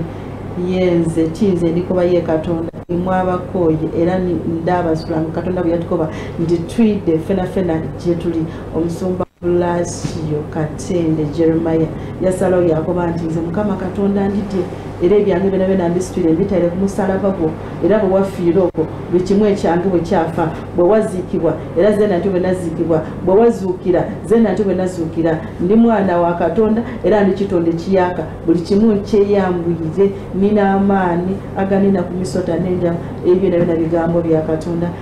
yenze kiyinza endikoba ye katonda imwabakooye era ndabasulamu katonda bwe yatukoba nti twidde fenafena gyetuli omusumba lasio katende jeremaya yasalawo yakoba nti nze mukama katonda ndidye era ebyange byona byona mbisitwire mbitaire ku musalaba gwo era bwe wafiira okwo buli kimu ekyange bwe kyafa bwe waziikibwa era ze natyo bwe naziikibwa bwe wazuukira ze natyo bwe nazuukira ndi mwana wa katonda era ndi kitonda ekiyaka buli kimu nkyeyambwire nina amaani aganina ku misota n'enjama ebyo nabyo na bigambo bya katonda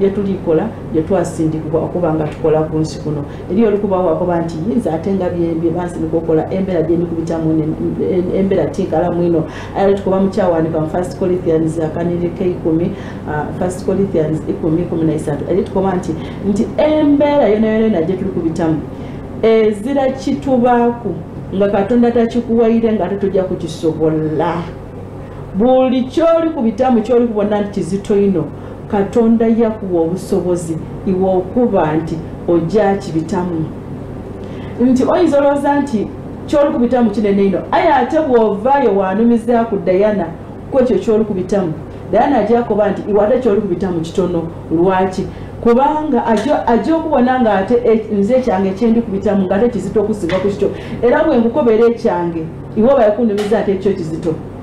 byetulikola byetwasindikibwa okuba nga tukola ku nsi kuno eri olikubawakoba nti yinza ate nga byebansinika okola embeera gyendikubitamu embeera tinkalamu ino era tukuba mukyawanika mu first colithians akanirika ikumi uh, first colithians ikumi kumi naisatu eri tukuba nti nti embeera yonayonayona gyetuli kubitamu ezira kitubaku nga katonda takikuwaire nga ate tujja kukisobola buli kyoli kubitamu kyoli kubona nti kizito ino katonda yakuwa obusobozi iwe okuba nti ojja kibitamu nti oyinza olowooza nti kyolikubitamu kinene ino aye ate bwovaayo wanumiza ku dayana kwekyo kyolikubitamu dayana ajakuba nti iwe ate kyolikubitamu kitono lwaki kubanga ajja okubona nga ate e, nze ekyange kyendi kubitamu nga ate kizito okusinga ku kityo era bwenkukobeera ekyange iwe obaekunumiza ate ekyo kizito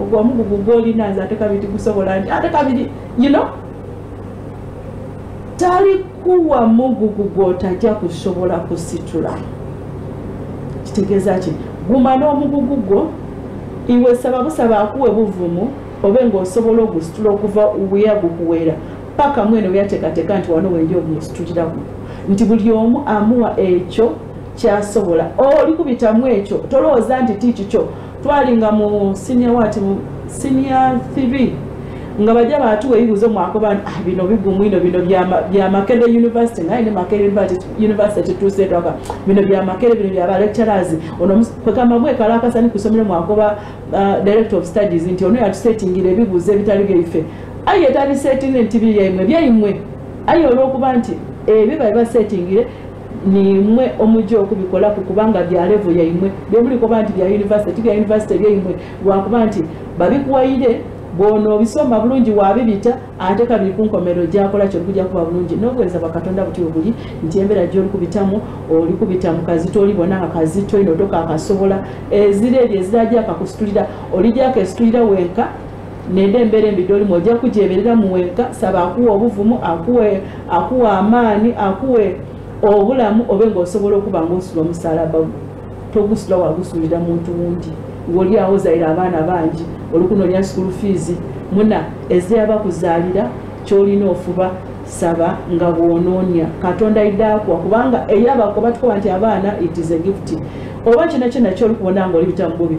ogwo omugugu gwolina nze ate kabiri tigusobola nti ate kabiri you know talikuwa mugugu gwotajja kusobola kusitula kitegeeza ki guma n'omugugu gwo iwe saba busaba akuwe buvumu obe ngaosobola ogusitula okuva weya gukuweera paka mwene weyateekateeka nti wano wenja ogusituliraku nti buli omu amuwa ekyo kyasobola oli kubitamu ekyo tolowooza nti ti kikyo twali nga mu senior wati mu senior 3 nga bajja batuwa ebibuuzo mwakoba nti ah, bino bigumu ino bino bya makere university naye ne makere university tuseetwaka bino bya makere bino bya balecturers ono kwekamba mwekalakasani kusomero mwakoba ah, director of studies nti ono yatusetingira ebibuuzo ebitali byaife aye tabisetinge nti byaimwe byaimwe aye olwokuba nti ebyo babibasetingire nimwe omujja okubikola ku kubanga bya levo yaimwe byemulikoba nti bya univesity bya univesity byaimwe lwakuba nti babikuwaire bwona obisoma bulungi wabibita ate kabiri kunkomero gyakola kyokuja kuba bulungi nobuwereza bwakatonda buti obuli nti embera gyolikubitamu olikubitamu kazito olibona nga kazito ino toka akasobola ezira ebyo ezira gyakakusitulira olijako esitulira wenka neda embeera embi gyolimu ojja kugyeberera mu wenka saba akuwa obuvumu akuwe akuwa amaani akuwe obulamu obe ngaosobola okuba ngaosula omusalaba gwe togusula wagusulira muntu wundi ngoli awo zaire abaana bangi olukunonya school fees muna ezeyaba kuzalira kyolina ofuba saba nga bwononya katonda idakwa kubanga eyabakoba tukoba nti abaana it is a gift oba kino kyona kyoli kubona nga olibitamububi